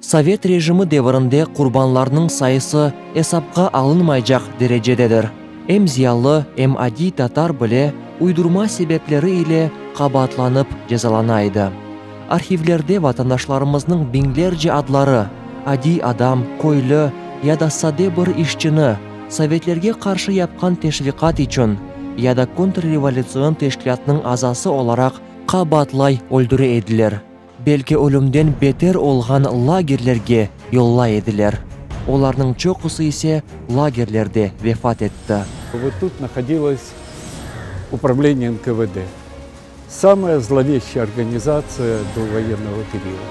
Sovet rejimi devirinde qurbanlarnıñ sayısı esapqa alınmaycaq derecededir. Em ziyalı, em adiy tatar bile uydurma sebepleri ile qabaatlanıp cezalana edi. Arhivlerde vatandaşlarımıznıñ biñlerce adları, adiy adam, köylü ya da sade bir işçini, sovetlerge qarşı yapqan teşviqat içün ya da kontrrevolütsion teşkilâtnıñ azası olaraq Qabaatlay öldüre ediler, belki ölümden beter olğan lagerlerge yollay ediler, olarnıñ çoqusı ise lagerlerde vefat etti. Ve tut nahodilось upravleniye NKVD, samaya zloveshçaya organizatsiya do voyennogo perio.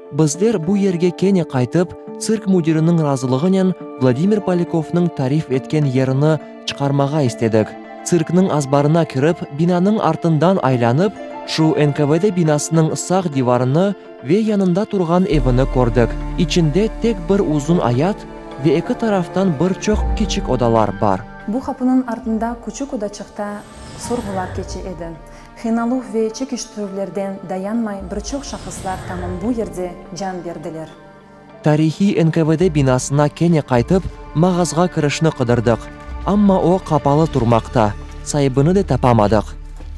Bizler bu yerge kene qaytıp, tsirk müdiriniñ razılığınen Vladimir Polyakovnıñ tarif etken yerini çıqarmağa istedik. Tsirkniñ azbarına kirip, binanıñ artından aylanıp, şu NKVD binasınıñ sağ divarını ve yanında turğan evini kördik. İçinde tek bir uzun ayat ve eki taraftan bir çoq kiçik odalar bar. Bu qapınıñ artında küçük odaçıqta sorğular keçe edi. Qıynaluv ve çekiştirüvlerden dayanmay bir çoq şahıslar tamın bu yerde can berdiler. Tarihiy NKVD binasına kene qaytıp, mağazğa kirişni qıdırdıq, amma o qapalı turmaqta, saibini de tapamadıq.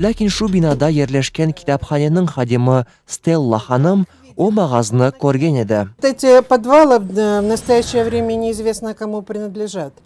Lâkin şu binada yerleşken kitaphaneniñ hadimi Stella hanım o mağaznı körgen edi. Eti podvalov, v nastoyaşeye vreme neizvestno komu prinadležat.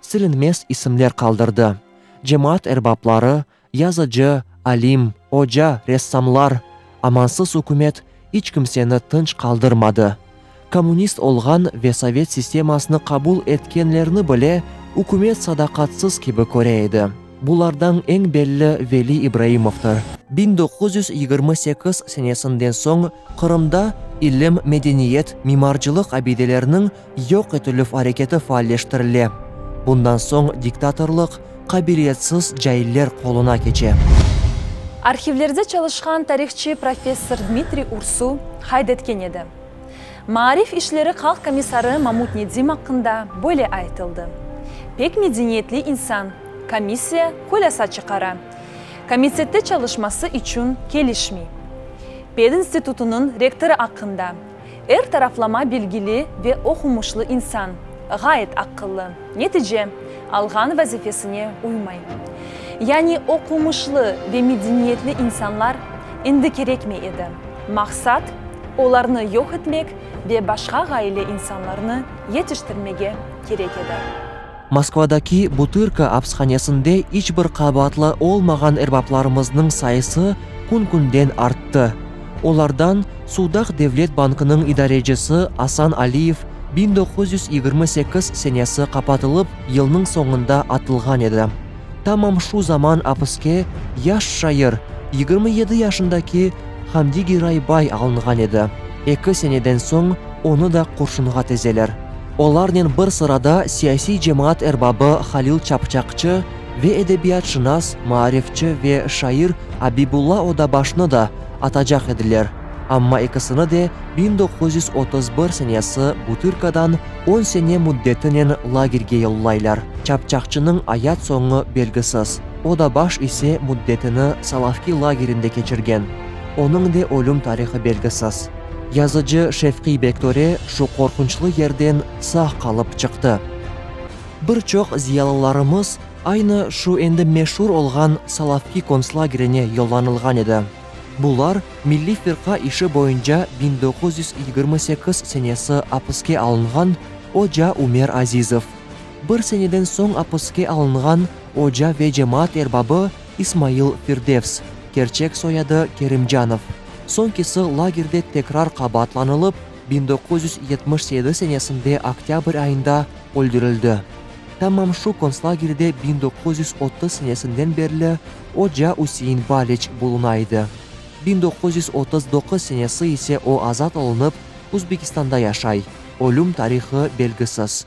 silinmez isimler qaldırdı, cemaat erbapları, yazıcı, alim, oca, ressamlar, amansız ükümet iç kimseni tınç qaldırmadı, kommunist olğan ve sovet sistemasını qabul etkenlerni bile ükümet sadaqatsız kibi köre edi, bulardañ eñ belli Veli İbraimovdır. Biñ doquz yüz yigirmi sekiz senesinden soñ Qırımda ilim, medeniyet, mimarcılıq abideleriniñ Yoq etilüv areketi faalleştirile. Bundan soñ diktatorlıq qabiliyetsiz cailler qoluna keçe. Arhivlerde çalışqan tarihçı professor Dmitriy Ursu qayd etken edi, Maarif işleri halq komissarı Mamut Nedim aqqında böyle aytıldı, Pek medeniyetli insan, komissiya hulâsa çıqara, komitette çalışması içün kelişmey. Pedinstitutınıñ rektorı aqqında. Er taraflama bilgili ve oqumuşlı insan, ğayet aqıllı, netice alğan vazifesine uymay. Yani oqumuşlı ve medeniyetli insanlar endi kerekmey edi, maqsat, olarnı yoq etmek ve başqa ğaile insanlarnı yetiştirmege kerek edi. Moskvadaki Butırka apshanesinde iç bir qabaatlı olmağan erbaplarımıznıñ sayısı kün-künden arttı. Olardan Sudaq devlet bankınıñ idarecisi Asan Aliyev biñ doquz yüz yigirmi sekiz senesi qapatılıp yılnıñ soñunda atılğan edi. Tamam şu zaman apiske yaş şair, yigirmi yedi yaşındaki Hamdi Giraybay alınğan edi, eki seneden soñ onı da qurşunğa tezeler. Olarnen bir sırada siyasiy cemaat erbabı Halil Çapçaqçı ve edebiyatşınas, maarifçi ve şair Abibulla Odabaşnı da atacaq ediler, amma ekisini de biñ doquz yüz otuz bir senesi Butırkadan on sene müddetinen lagerge yollaylar. Çapçaqçınıñ ayat soñu belgisiz, Odabaş ise müddetini Salavki lagerinde keçirgen, onıñ de ölüm tarihı belgisiz. Yazıcı Şefqiy Bektore şu qorqunçlı yerden sağ qalıp çıqtı. Bir çoq ziyalılarımız aynı şu endi meşur olğan Solovki kontslagerine yollanılğan edi. Bular milliy firqa işi boyunca biñ doquz yüz yigirmi sekiz senesi apiske alınğan oca Ümer Azizov, bir seneden soñ apiske alınğan oca ve cemaat erbabı İsmail Firdevs, kerçek soyadı Kerimcanov, soñkisi lagerde tekrar qabaatlanılıp, biñ doquz yüz yetmiş sekiz senesinde oktâbr ayında öldürildi. Tamam şu kontslagerde biñ doquz yüz otuz senesinden berli oca Üsein Baliç buluna edi. Biñ doquz yüz otuz doquz senesi ise o azat olunıp, Uzbekistanda yaşay, ölüm tarihı belgisiz.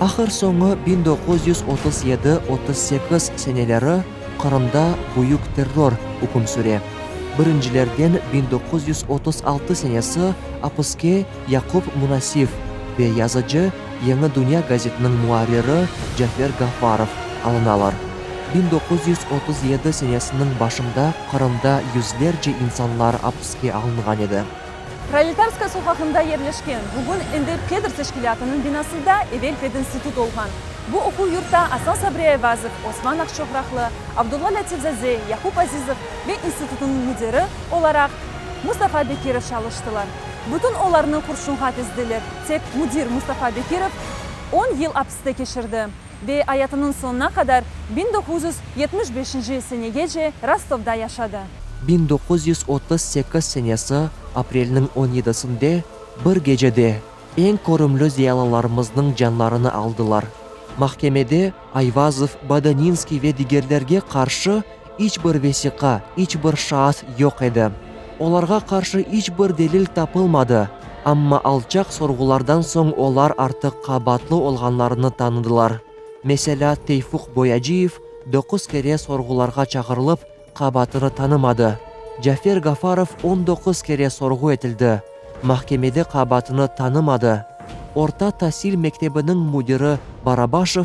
Ahır soñu biñ doquz yüz otuz yedi, otuz sekiz seneleri Qırımda büyük terror üküm süre. Birincilerden biñ doquz yüz otuz altı senesi apiske Yaqub Munasif ve yazıcı, Yeñi Dünya gazetiniñ muarriri Cafer Gaffarov alınalar. Biñ doquz yüz otuz yedi senesiniñ başında Qırımda yüzlerce insanlar apiske alınğan edi. Proletarskaya soqağında yerleşken, bugün endi Pedr teşkilâtınıñ binasında evel pedinstitut olğan bu oquv yurtta Asan Sabri Ayvazov, Osman Aqçoqraqlı, Abdulla Lâtifzaze, Yaqub Azizov ve institutnıñ müdiri olaraq Mustafa Bekirov çalıştılar. Bütün olarnı qurşunğa tizdiler, tek müdir Mustafa Bekirov on yıl apiste keçirdi. Ve ayatınıñ soñuna qadar, biñ doquz yüz yetmiş beşinci senegece, Rostovda yaşadı. Biñ doquz yüz otuz sekiz senesi aprelniñ on yedisinde bir gecede eñ körümli ziyalılarımıznıñ canlarını aldılar. Mahkemede Ayvazov, Bodaninskiy ve digerlerge qarşı İç bir vesiqa, iç bir şaat yoq edi. Olarğa qarşı iç bir delil tapılmadı, amma alçaq sorğulardan soñ olar artıq qabaatlı olğanlarını tanıdılar. Meselâ, Teyfuq Boyaciyev doquz kere sorğularğa çağırılıp, qabaatını tanımadı. Cafer Gafarov on doquz kere sorğu etildi, mahkemede qabaatını tanımadı. Orta tasil mektebiniñ müdiri Barabaşev,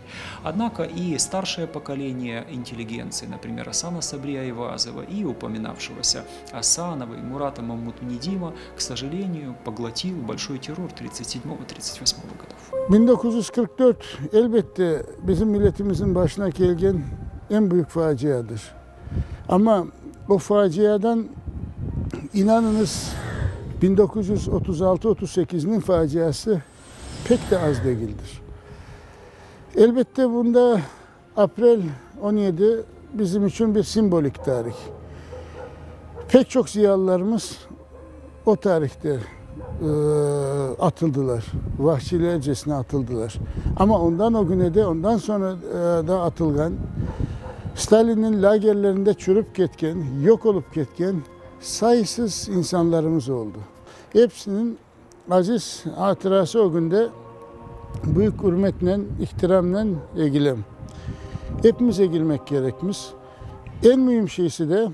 Odnako i starşaya pokoleniye intelligentsiya, naprimer, Asana Sabriya-Eyvazova i upominavşigosi Asanova i Murata Mamutnedima, k soželeniyu, poglotil bolşoy terror tritset sedmogo tritseti vosmogo godov. Biñ doquz yüz qırq dört, elbette, bizim milletimizniñ başına kelgen eñ büyük faciadır. Amma o faciadan, inanıñız, biñ doquz yüz otuz altı-otuz sekizniñ faciası Pek de az degildir. Elbette, bunda aprel on yedi bizim içün bir simvolik tarih. Pek çoq ziyalılarımız o tarihte atıldılar, vahşilercesine atıldılar. Amma ondan o güne de, ondan soñra da atılğan, Stalinniñ lagerlerinde çürüp ketken, yoq olıp ketken sayısız insanlarımız oldı. Hepsiniñ. Aziz hatırası ögünde büyük ürmetnen, ihtiramnen egilem. Epimiz egilmek kerekmiz. Eñ müim şeysi de,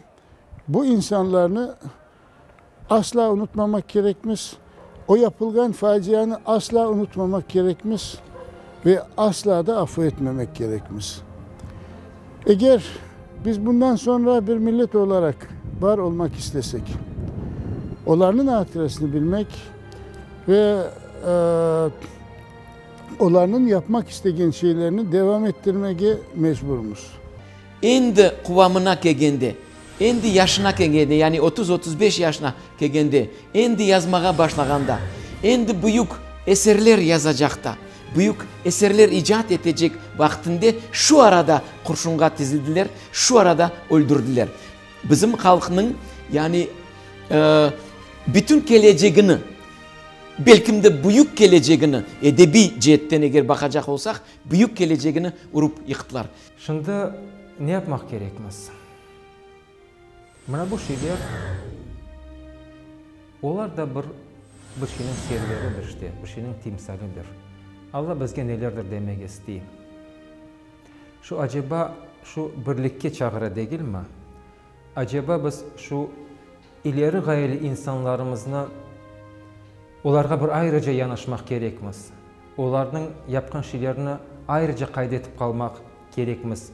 bu insanlarnı asla unutmamak kerekmiz, o yapılğan facianı asla unutmamak kerekmiz ve asla da afu etmemek kerekmiz. Eger biz bundan soñra bir millet olaraq bar olmaq istesek, olarnıñ atıresini bilmek ve olarnıñ yapmaq istegen şeylerini devam ettirmege mecburmız. Endi quvamına kelgende, Endi yaşına kelgende, yani otuz, otuz beş yaşına kelgende, endi yazmağa başlağanda, endi büyük eserler yazacaqta, büyük eserler icat etecek vaqtinde şu arada qurşunğa tizildiler, şu arada öldürdiler. Bizim halqnıñ, yani bütün kelecegini, belkim de büyük kelecegini, edebiy ceetten eger baqacaq olsaq, büyük kelecegini urup yıqtılar. Şimdi ne yapmaq kerekmiz? Mına bu şeyler, olar da bir bir şeyniñ serleridir işte, bir şeyniñ timsalidir. Alla bizge nelerdir demek istey. Şu aceba şu birlikke çağıra degilmi? Aceba biz şu İleri ğayeli insanlarımıznı, olarğa bir ayrıca yanaşmaq kerekmiz, olarnıñ yapqan şeylerini ayrıca qayd etip qalmaq kerekmiz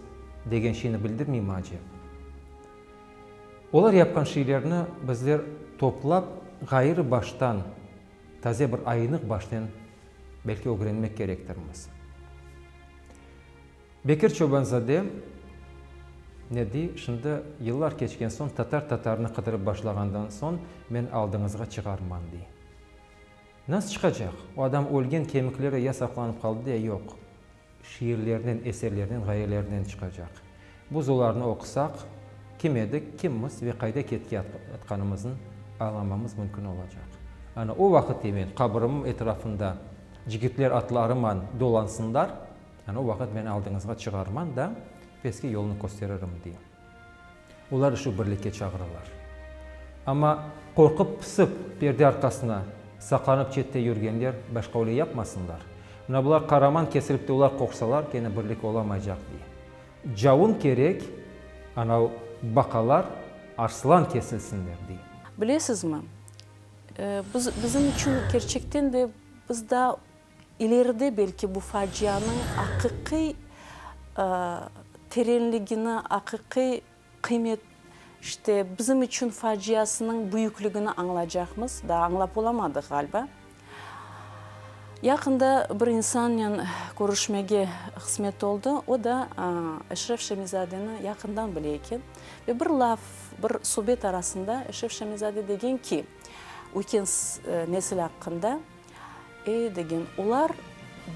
degen şeyni bildirmeymi acep? Olar yapqan şeylerini bizler toplap, ğayrı baştan, taze bir ayınıq başnen belki ögrenmek kerektirmiz. Bekir Çobanzade ne dey, Şimdi, yıllar keçken soñ, tatar tatarnı qıdırıp başlağandan soñ, men aldıñızğa çıgarman, dey. Nasıl çıqacaq? O adam ölgen, kemikleri ya saqlanıp qaldı, ya yoq. Şiirlerinen, eserlerinen, ğayelerinen çıqacaq. Biz olarnı oqusaq, kim edik, kimmiz ve qayda ketkeyatqanımıznı añlamamız mümkün olacaq. Ana o vaqıt, dey, men qabırımnıñ etrafında cigitler atlarıman dolansınlar. O vaqıt men aldıñızğa çıgarman da, pestki yolnı kösteririm, dey. Olar üçü birlikke çağıralar. Amma qorqıp-pısıp, perde arqasına saqlanıp çette yürgenler başqa öyle yapmasınlar. Mına bular qaraman kesilip tüyler qoqsalar, kene birlik olamaycaq, dey. Cavun kerek, anau baqalar arslan kesilsinler, dey. Bilesizmi, biz, bizim içün kerçekten de biz daa İleride belki bu facianıñ aqiqiy terenligini, aqiqiy qıymet, işte bizim içün faciasınıñ büyükligini añlacaqmız, daa añlap olamadıq ğaliba. Yaqında bir insannen körüşmege qısmet oldı, o da Eşref Şemizadeni yaqından bile eken. Ve bir laf, bir subet arasında Eşref Şemizade degen ki, ötken nesil aqqında, Ey, degen, olar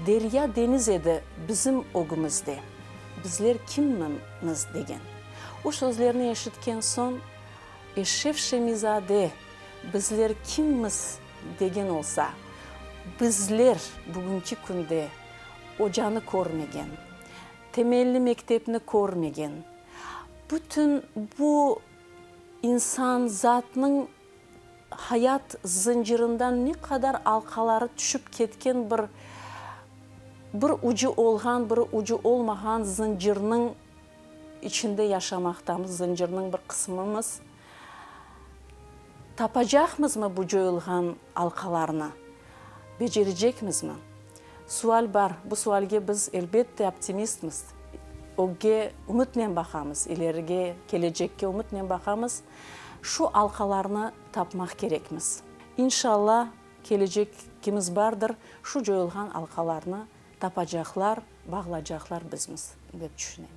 derya, deñiz edi bizim ögümizde, bizler kimmimiz? degen. O sözlerni eşitken soñ, Eşşef Şemizade, bizler kimmiz degen olsa, bizler bugünki künde ocanı körmegen, temelli mektepni körmegen, bütün bu insan zatnıñ, Hayat zıncırından ne qadar alqaları tüşip ketken bir, bir ucı olğan, bir ucı olmağan zıncırnıñ içinde yaşamaqtamız, zıncırnıñ bir qısmımız. Tapacaqmızmı bu coyulğan alqalarnı? Becerecekmizmi? Sual bar. Bu sualge biz, elbette, optimistmiz. Ögge ümütnen baqamız, ilerige, kelecekke ümütnen baqamız. Şu alqalarnı tapmaq kerekmiz. İnşalla, kelecekimiz bardır, şu coyulğan alqalarnı tapacaqlar, bağlacaqlar bizmiz, dep tüşünem.